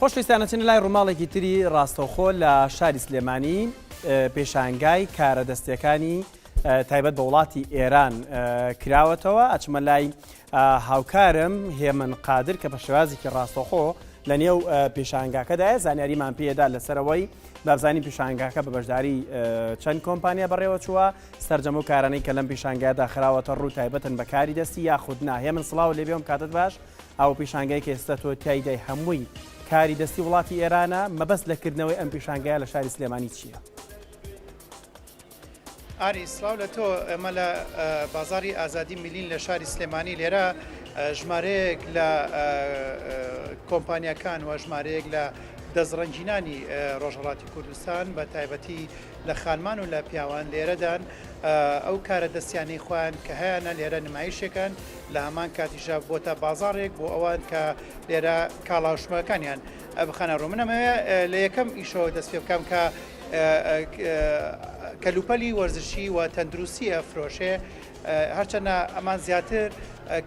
خۆشەویستان ئەچینە لای ڕووماڵێکی تری ڕاستەوخۆ لە شاری سلێمانی پێشانگای کارە دەستیەکانی تایبەت بە وڵاتی ئێران کراوەتەوە ئەچمە لای هاوکارم هێمن قادر کە بە شێوازێکی ڕاستەخۆ لە نێو پێشانگاکەدایە زانیاریمان پێدا لەسەرەوەی بابزانی پیشانگاکە بە بەشداری چەند کۆمپانیا بەڕێوە چووە سرجەم و کارانەی کە لەم پیشانگادا خراوەتە ڕوو تایبەتن بەکاری دەستی یاخود ناهێ من سلااو لێبێم کاتت باش ئەو پیشانگای کە ئێستا تۆ تیایدای هەمووی کاری دەستی وڵاتی ئێرانە مەبەست لە کردنەوەی ئەم پیشانگای لە شاری سلێمانی چییە؟ ئاری سلااو لە تۆ ئەمە لە بازاری ئازادی میلین لە شاری سلێمانی لێرە ژمارەیەک لە کۆمپانیەکان و ژمارەیەک لە دەستڕەنجینانی ڕۆژهڵاتی کوردستان بە تایبەتی لە خانمان و لە پیاوان لێرەدان ئەو کارە دەستیانەی خۆیان کە هەیەە لێرە نمایشەکان لە هەمان کاتیشا بۆتە بازاڕێک بۆ ئەوان کە لێرە کاڵا و شمەکانیان بخەنە ڕوو من ئەمەوێ لە یەکەم ئیشەوە دەست پێ بکەم کە کەلوپەلی وەرزشی و تەندروستی ئەفرۆشێ هەرچەنە ئەمان زیاتر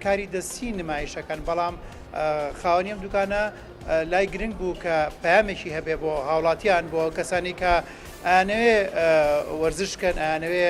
کاری دەستی نمایشەکەن بەڵام خاوەنیم دوکانە لای گرنگ بوو کە پامێکی هەبێ بۆ هاوڵاتیان بۆ کەسانی کە ئەنەوێ وەرزشکەن ئەنەوێ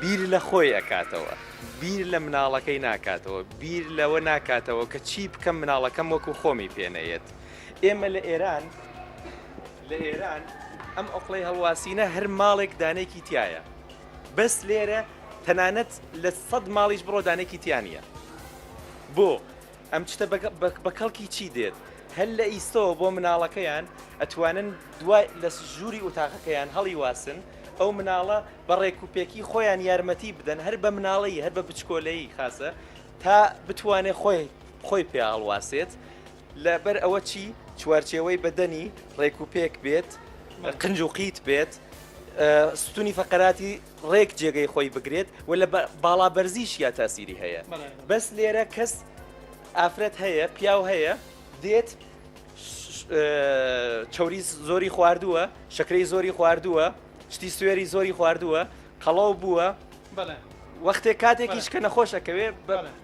بیر لە خۆی ئەکاتەوە بیر لە مناڵەکەی ناکاتەوە بیر لەوە ناکاتەوە کە چی بکەم مناڵەکەم وەکو خۆمی پێنەیەت ئێمە لە ئێران لە ئێران ئەم ئۆقلەی هەڵواسینە هەر ماڵێک دانێکی تایە بەس لێرە تەنانەت لە سەد ماڵیش بڕۆدانێکی تیانە بۆ ئەم چتە بە کەڵکی چی دێت؟ هەر لە ئیستەوە بۆ مناڵەکەیان ئەتوانن دوای لە ژووری ئوتاقەکەیان هەڵی واسن ئەو مناڵە بە ڕێک و پێکی خۆیان یارمەتی بدەن هەر بە مناڵی هەر بە بچکۆلەیی خاسە تا بتوانێت خۆی خۆی پێ هەڵواسێت لەبەر ئەوە چی چوارچێوەی بەدەنی ڕێک و پێک بێت قنج و قیت بێت ستونی فەقەراتی ڕێک جێگەی خۆی بگرێت و لە باڵا بەرزیشیا تاسیری هەیە بەس لێرە کەس ئافرەت هەیە پیاو هەیە دێت چوری زۆری خواردووە شکری زۆری خواردووە شتی سوێری زۆری خواردووە قەڵاو بووە وەختێک کاتێکیش کە نەخۆشەکەوێ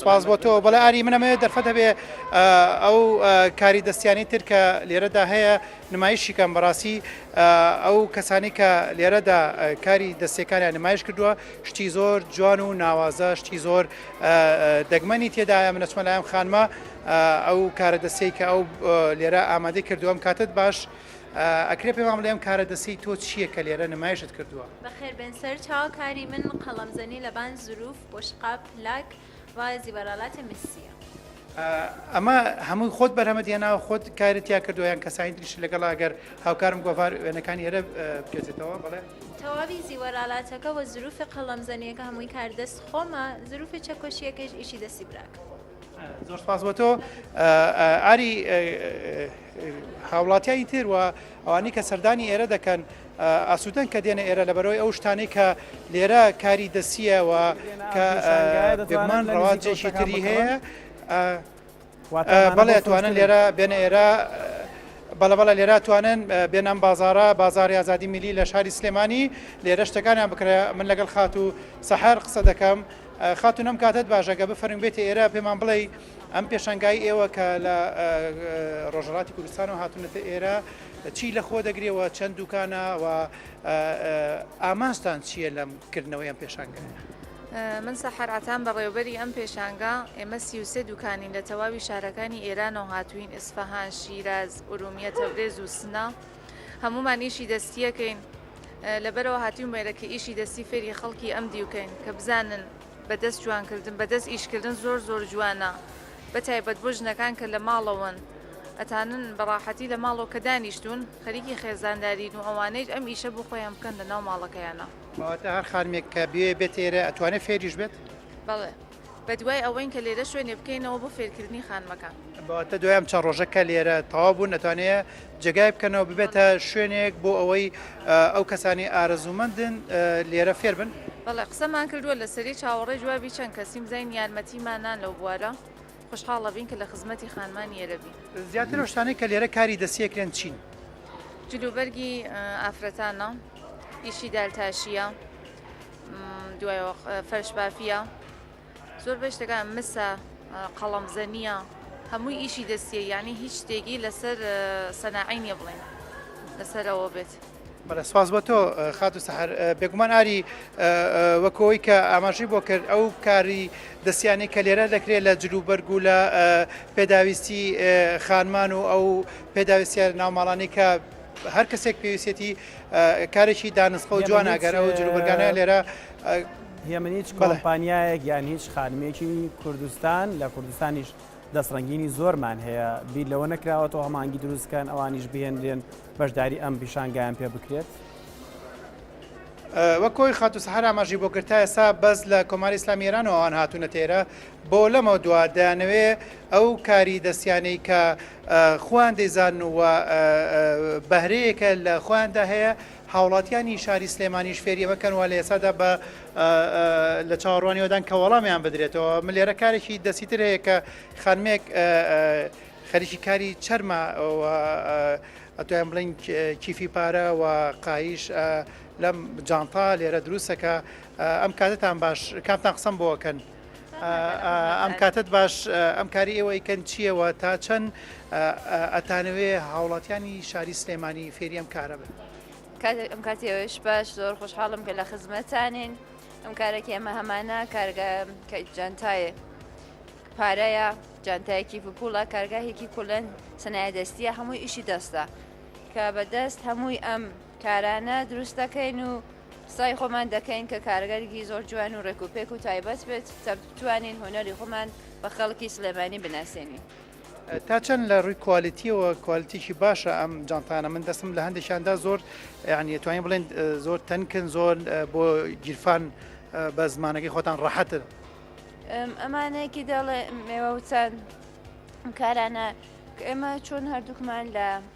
سپاس بۆ تۆ. بەڵێ ئاری، من ئەمەوێت دەرفەت هەبێ ئەو کاری دەستییانەی تر کە لێرەدا هەیە نمایشی کەم. بەڕاستی ئەو کەسانەی کە لێرەدا کاری دەستییەکانیان نمایش کردووە، شتی زۆر جوان و ناوازە، شتی زۆر دەگمەنی تێدایە. من ئەچمە لای ئەم خانمە، ئەو کارە دەستییەی کە ئەو لێرە ئامادەی کردووە. ئەم کاتەت باش، ئەکرێ پێمان بڵێ ئەم کارە دەستیی تۆ چییە کە لێرە نمایشت کردووە؟ بەخێربێن سەرچاو، کاری من قەڵەمزەنی لەبان زرووف بوشقاب لاک رایەزی بەرالات میسیە. ئەمە هەمووی خۆت بەرهەمەت هێناوە خۆت کارت تیا کردو یان کەسانی تریش لەگەڵ ئەگەر هاوکارم گۆڤار وێنەکانی ئێرە بکێتەوە بڵێ تەواوی زیوەرالاتەکە وە زروفە قەڵەم زەنیەکە هەمووی کار دەست خۆمە زروفی چەکۆشیەکەیش ئیشی دەستی براکەمە. زۆر سپاس بۆ تۆ ئاری هاوڵاتیانی تر و ئەوانی کە سەردانی ئێرە دەکەن ئاسوودەن کە دێنە ئێرە لە بەرەوەی ئەو شتانی کە لێرە کاری دەسیەوە کە دەگومان ڕەواجێکی تری هەیە بەڵێ توانن لێرە بێنە ئێرە بەڵە بەڵە لێرا توانن بێنام بازارە بازاری ئازادی میلی لە شاری سلێمانی لێرە شتەکانیان بکرێ من لەگەڵ خات و سەحر قسە دەکەم خاتون ئەم کاتەت باش ئەگە بفەرموین بێتە ئێرە پێمان بڵێی ئەم پێشەنگای ئێوە کە لە ڕۆژهەڵاتی کوردستانەوە هاتونەتە ئێرە چی لە خۆ دەگرێەوە چەند دوکانە و ئامانجتان چییە لەم کردنەوەی ئەم پێشانگایە من سەحر عتان بەڕێوبەری ئەم پێشانگا ئێمە سیوسێ دوکانین لە تەواوی شارەکانی ئێرانەوە هاتوین ئیسفەهان شیراز ئورومیە تەورێز و سنە. هەموومان ئیشی دەستیەکەین لەبەرەوە هاتیم وێرە کە ئیشی دەستی فێری خەڵکی ئەم دیوکەین کە بزانن بەدەست جوانکردن بەدەست ئیشکردن زۆر زۆر جوانە بە تایبەت بۆ ژنەکان کە لە ماڵەوەن ئەتانن بەڕاحەتی لە ماڵۆ کە دانیشتون خەریکی خێزاندارین و ئەوانەیش ئەم ئیشە بۆ خۆیان بکەن لە ناو ماڵەکەیانە. کەواتە هەر خانمێک کە بوێ بێت ئێرە ئەتوانێت فێریش بێت؟ بەڵێ بە دوای ئەوەین کە لێرە شوێنێ بکەینەوە بۆ فێرکردنی خانمەکان. بە واتە دوای ئەم چەند ڕۆژە کە لێرە تەواو بوون ئەتوانێ جێگای بکەنەوە ببێتە شوێنێک بۆ ئەوەی ئەو کەسانی ئارەزوومەندن لێرە فێر بن؟ بەڵێ قسەمان کردووە لەسەری چاوەڕێی جوابی چەند کەسیم زین یارمەتیمانان لەو بوارە خوشحاڵ ئەبین کە لە خزمەتی خانمان یێرە بین. زیاتر ئەو شتانەی کە لێرە کاری دەستی ئەکرێن چین؟ جلوبەرگی ئافرەتانە، ئیشی دارتاشییە. دوایەوە فەرش بافیە زۆر بەی شتەکان مسە قەڵەم زەنیە هەمووی ئیشی دەستیە یعنی هیچ شتێکی لەسەر سەناعی نیە بڵین لەسەرەوە بێت. بەڵێ سواز بۆ تۆ خات و سەحر بێگومان ئاری وەکەوەی کە ئاماژی بۆ کرد ئەو کاری دەستیانی کە لێرە دەکرێت لە جلوبەرگ و لە پێداویستی خانمان و ئەو پێداویستە ناوماڵانی کە هەر کەسێک پێویستێتی کارێکی دانسقە و جوان ئەگەر ئەو جلوبەرگانە لێرە هێمن هیچ کۆمپانیایەک یان هیچ خانمێکی کوردستان لە کوردستانیش دەستڕنگینی زۆرمان هەیە بیر لەوە نەکراوە تۆ هەمانگی دروستکەن ئەوانیش بهێنرێن بەشداری ئەم پیشانگایان پێ بکرێت. وەکۆی خاتو سەحر ئاماژی بۆ کرد تا ئێستا بەس لە کۆماری ئیسلامی ئێرانەوە ئەوان هاتوونەتە ئێرە بۆ لەمەوە دوا دەیانەوێ ئەو کاری دەستیانەی کە خۆیان دەیزانن و بەهرەیەکە لە خۆیاندا هەیە، هاوڵاتیانی شاری سلێمانیش فێری ئەمە کەن و لە ئێستادا بە لە چاوەڕوانی ئەوەدان کە وەڵامیان بدرێتەوە. من لێرە کارێکی دەستی تر هەیە کە خانمێک خەریکی کاری چەرمە و ئەتوانین بڵێن کیفی پارە و قایش لەم جانتا لێرە دروستەکە ئەم کاتتان باش کامتان قسەم بۆکەن. ئەم کاتت باش ئەم کاری ئێوە ئیکەن چییەوە تا چەند ئەتانەوێ هاوڵاتیانی شاری سلێمانی فێری ئەم کارە بن ئەم کاتیەوەش باش زۆر خۆشحاڵم کە لە خزمەتانین ئەم کارێکی ئەمە هەمانە کارگە کە جانتایە پارەیە جانتایەکی پوپوڵە کارگاهێکی کولەن سنایە دەستیە هەمووی ئیشی دەستە کە بەدەست هەمووی ئەم کارانە دروست دەکەین و سای خۆمان دەکەین کە کارگەرێکی زۆر جوان و ڕێک و پێک و تایبەت بێت تا بتوانین هونەری خۆمان بە خەڵکی سلێمانی بناسێنین. تا چەند لە ڕووی کوالیتیەوە کوالیتیکی باشە ئەم جانتانە من دەستم لە هەندێکیاندا زۆر یعنی توانین بڵێن زۆر تەنکن زۆر بۆ گیرفان بە زمانەکەی خۆتان ڕەحەتن ئەمانەیەکی دەڵێ مێوە وچەند کارانە ئێمە چۆن هەردووکمان لە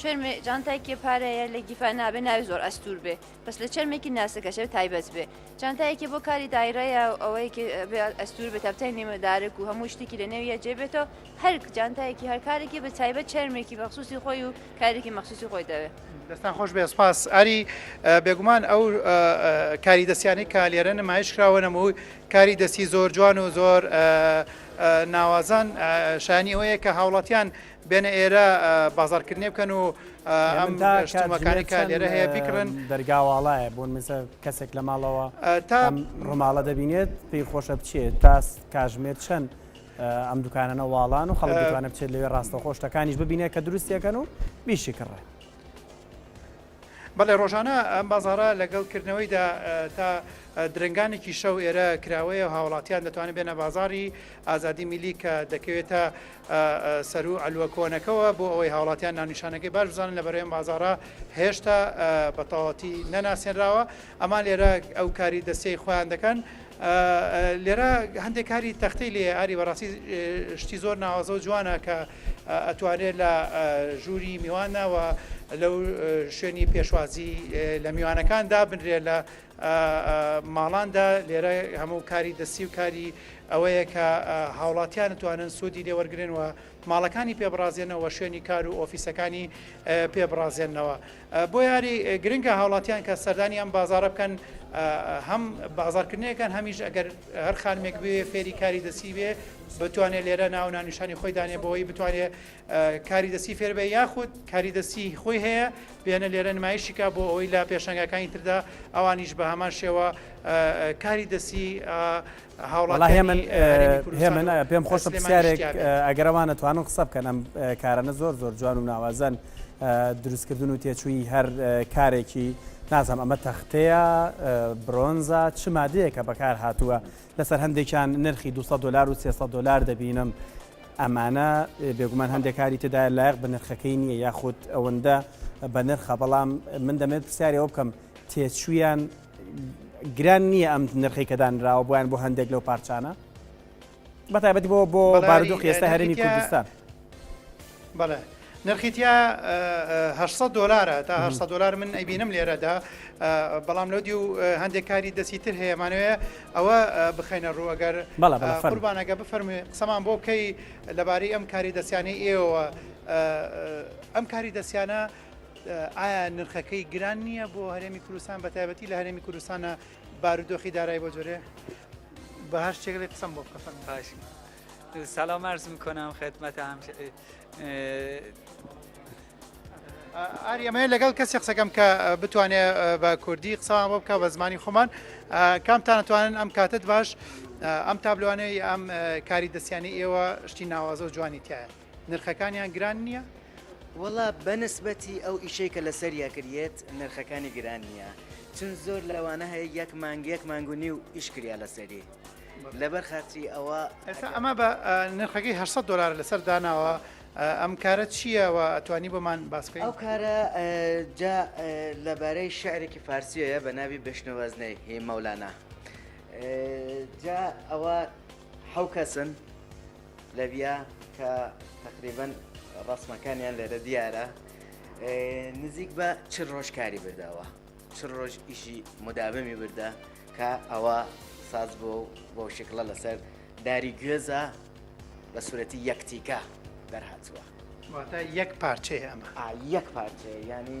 چەرمێ جانتایکێ پارەیە لە گیفا نابێ ناوێ زۆر ئەستور بێ بەس لە چەرمێکی ناسەکەشێ تایبەت بێ جانتایەکی بۆ کاری دایرەیە ئەوەیەکی ئەستور بێ تەپتای نێمەدارک و هەموو شتێکی لە نێویە جێبێتەوە هەر جانتایەکی هەرکارێکی بە تایبەت چەرمێکی مەخصوصی خۆی و کارێکی مەخصوصی خۆی دەوێت دەستان خۆش بێ سپاس ئاری بێگومان ئەو کاری دەستیانی کە لێرە نمایش کراوە نەموو کاری دەستی زۆر جوان و زۆر ناوازان شانی ئەوەیە کە هاوڵاتیان بێنە ئێرە بازاڕکردنێ بکەن و ئەم شتومەکانی کە لێرە هەیە بیکڕن دەرگاواڵایە بۆن مزە کەسێک لە ماڵەوە تا ڕماڵە دەبینێت پێی خۆشە بچێت تا کاژمێر چەند ئەم دوکانەنە واڵان و خەڵکوانە بچێت لەوێ ڕاستە خۆشتەکانیش ببینێت کە دروستیەکەن و بیشی کڕێت. بەڵێ ڕۆژانە ئەم بازاڕە لەگەڵ کردنەوەیدا تا درنگانێکی شەو ئێرە کراوەیە و هاوڵاتیان دەتوانێت بێنە بازاری ئازادی میلی کە دەکەوێتە سەرو ئەلوە کۆنەکەەوە بۆ ئەوەی هاوڵاتیان ناونیشانەکەی باش بزانن لە بەرەیەم بازارە هێشتا بەتەواتی نەناسێنراوە ئەمان لێرە ئەو کاری دەستەی خۆیان دەکەن لێرە هەندێک کاری تەختەی لێیە ئاری بەڕاستی شتی زۆر ناوازە و جوانە کە ئەتوانێت لە ژووری میوانەوە لەو شوێنی پێشوازی لە میوانەکان دابنرێ لە ماڵاندا لێرە هەموو کاری دەستی و کاری ئەوەیە کە هاوڵاتیان توانن سوودی لێوەرگن و ماڵەکانی پێبڕازێنەوە شوێنی کار و ئۆفیسەکانی پێبڕازێنەوە بۆیاری گرنگە هاوڵاتیان کە سەردانی ئەم بازارە بکەن هەم بازارکردنێکەکەن هەمیش ئەگەر هەر خانمێک بێ فێری کاری دەسی بێ بتوانێت لێرە ناو نانیشانی خۆی دانێ بۆی بتوانێت کاری دەسی فێربێ یاخود کاری دەسی خۆی هەیە بێنە لێرە نمایشیکە بۆ ئەوەی لە پێشنگەکانی تردا ئەوانیش بە هەمان شێوە کاری دەسی وەڵا هێمن هێمن پێم خۆشە پرسیارێک ئەگەر ئەوان ئەتوانن قسە بکەن ئەم کارانە زۆر زۆر جوان و ناوازەن دروستکردن و تێچووی هەر کارێکی نازم ئەمە تەختەیە برۆنزا چ مادەیەکە بەکار هاتووە لەسەر هەندێکیان نرخی 200 دلار و 300 دلار دەبینم ئەمانە بێگومان هەندێکاری تێدا لایق بە نرخەکەی نییە یاخود ئەوەندە بە نرخە بەڵام من دەمێت پرسیارەوە بکەم تێچویان گران نییە ئەم نرخەی کە دانراوە بۆیان بۆ هەندێک لەو پارچانە بە تایبەتی بۆ بۆ بارودۆخ ئێستا هەرێمی کوردستان بەڵێ نرخیتیا 600 دلارە تا 600 دلار من ئەبینم لێرەدا بەڵام لەودی و هەندێک کاری دەستی تر هەیەمانوێ ئەوە بخینە ڕووەگەر قوربانەکە بفەرمی قسەمان بۆ بکەی لەبارەی ئەم کاری دەستیانی ئێوە ئەم کاری دەستیانە ئایا نرخەکەی گران نییە بۆ هەرێمی کوردستان بە تایبەتی لە هەرێمی کوردستانە بارودۆخی دارای بۆ جۆرێ بە هەر شتێک لێ قسەم بۆ بکەفەن باش سلام عرض میکنم خدمت هم ئاریەمەیە لەگەڵ کەسی قسەکەم کە بتوانێت بە کوردی قسەوان بۆ بکە بە زمانی خۆمان کامتانەتوانن ئەم کاتت باش ئەم تابلوانەی ئەم کاری دەستیانی ئێوە شتی ناوازە و جوانی تایە نرخەکانیان گران نییە؟ وەڵا بەنسبەتی ئەو ئیشەی کە لەسەریا کریێت نرخەکانی گران نییە چون زۆر لەوانە هەیە یەک مانگ یەک مانگ و نیو ئیش کریا لەسەری لەبەر خاتری ئەوە ئێستا ئەمە بە نرخەکەی 800 دلار لەسەر داناوە ئەم کارە چییەوە ئەتوانی بۆمان باسکەی ئەو کارە جا لەبارەی شعرێکی فارسیەیە بە ناوی بشنەوەزنەی هی مەولانە جا ئەوە حەو کەسن لەبیا کە تقریبن ڕسمەکانیان لێرە دیارە نزیک بە چ ڕۆژ کاری بردەوە چ ڕۆژ ئیشی مدابەمی بردە کە ئەوە ساز بۆ بۆ شکڵە لەسەر داری گوێزە بە سوورەتی یەکتیکە دەرهاتووە واتە یەک پارچەیە ئەمە یەک پارچەیە ینی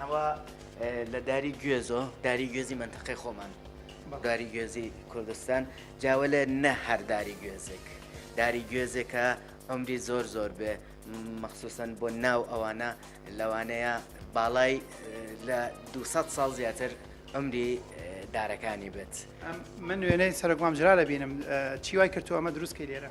ئەوە لە داری گوێزۆ داری گوێزی منتەقی خۆمان داری گوێزی کوردستان جاوە لە نە هەرداری گوێزێک داری گوێزێکە ئەمری زۆر زۆر بێ مەخصوسن بۆ ناو ئەوانە لەوانەیە باڵای لە 200 ساڵ زیاتر ئەمری دارەکانی بێت من نوێنەی سەرکمام جرا لە بینم چی وای کرد ئەمە دروستکەی لێرە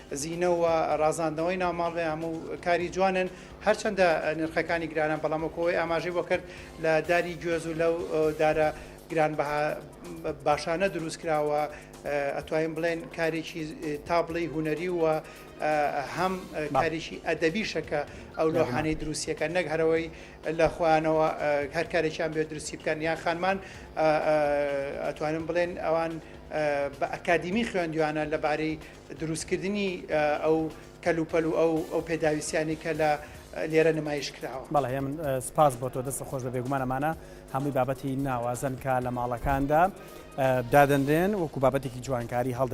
زینە و ڕازاندنەوەی ناو ماڵ هەموو کاری جوانن، هەرچەندە نرخەکانی گرانە، بەڵام وەکو ئەوەی ئاماژەی بۆ کرد لە داری گوێز و لەو دارە گرانبەها باشانە دروست کراوە، ئەتوانین بڵێن کارێکی تا بڵێی هونەری و هەم کارێکی ئەدەبیشە کە ئەو لۆحانەی دروستیەکە نەک هەرەوەی لە خۆیانەوە هەر کارێکیان بێ دروستی بکەن یان خانمان ئەتوانم بڵێن ئەوان بە ئەکادیمی خوێندویانە لەبارەی دروستکردنی ئەو کەلوپەل و ئەو پێداویستیانەی کە لە لێرە نمایش کراوە. بەڵێ هێمن سپاس بۆ تۆ دەستت خۆش بێ بێگومان ئەمانە هەمووی بابەتی ناوازەن کە لە ماڵەکاندا دادەنرێن وەکو بابەتێکی جوانکاری هەڵدەگیرێت.